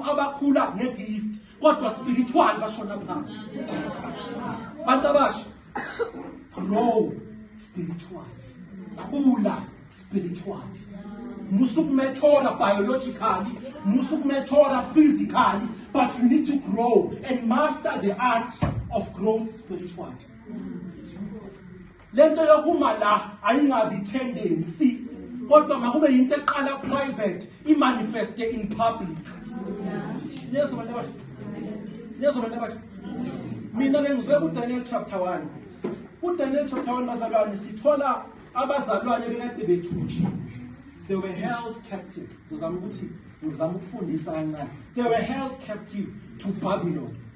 abakhula ngegift kodwa spiritual bashona phansi bantu abasha grow spiritual khula spiritual musukumethora biologically musukumethora physically but you need to grow and master the art of growth spiritually lento yokuma la ayingabi tendency kodwa makube yinto eqala private imanifeste in public lezo bantu abasha lezo bantu abasha mina ke ngizwe kuDaniel chapter 1 kuDaniel chapter 1 bazalwane sithola abazalwane bekade bethunjiwe they were held captive ngizama ukuthi ngizama ukufundisa kancane they were held captive to babylon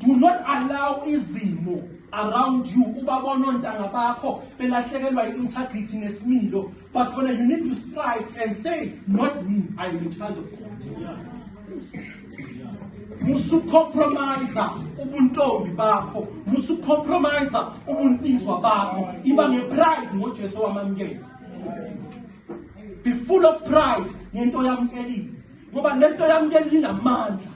do not allow izimo around you ubabona ontanga bakho belahlekelwa i-integrity nesimilo but wena you need to strike and say not me i am a child of god musucompromise ubuntombi bakho musucompromise ubunsizwa bakho iba ngepride ngojesu wamamukela be full of pride ngento yamkelile ngoba lento yami leli linamandla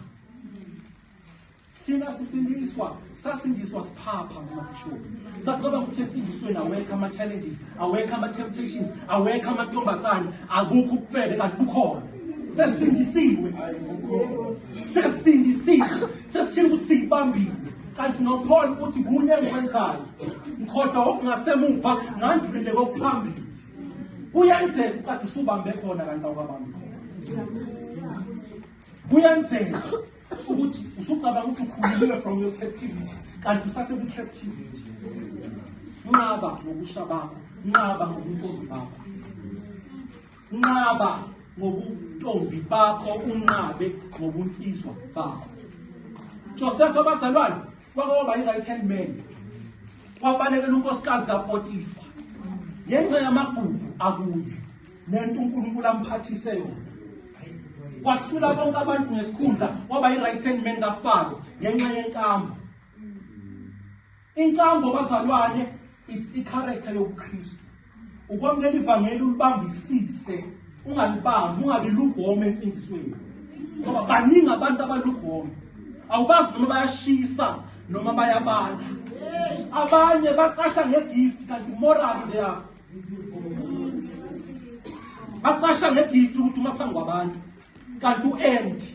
thina sisindiswa sasindiswa siphapha ngamabhishobhi sacabanga ukuthi emfundisweni awekho ama-challenges awekho ama-temptations awekho amantombazane akukho ukufele kanti kukhona sesindisiwe sesindisiwe sesishile ukuthi siyibambile kanti nophole ukuthi kunye engikwenzayo ngikhohlwa okungasemuva ngandulile kokuphambili kuyenzeka uqade usubambe khona kanti awukabambi khona kuyenzeka ukuthi usucabanga ukuthi ukhululile from your captivity kanti usasekwi-captivity nqaba ngokusha bakho nqaba ngobuntombi bakho nqaba ngobuntombi bakho unqabe ngobunsizwa bakho josefa abazalwane kwake waba yi-right hand man wabalekela unkosikazi kapotifa ngenxa yamagugu akuyo nento unkulunkulu amphathise yona wahlula bonke abantu ngesikhundla waba yi-right hand man kafaro ngenxa yenkambo inkambo bazalwane it's i-character yobukhristu Ukwamukela ivangeli ulibambisise, ungalibambi, ungabi lugome emfundisweni. Ngoba baningi abantu abalugome. Awubazi noma bayashisa noma bayabala. Abanye bacasha ngegift kanti moral they are. Bacasha ngegift ukuthi uma phambi kwabantu kanti uempty.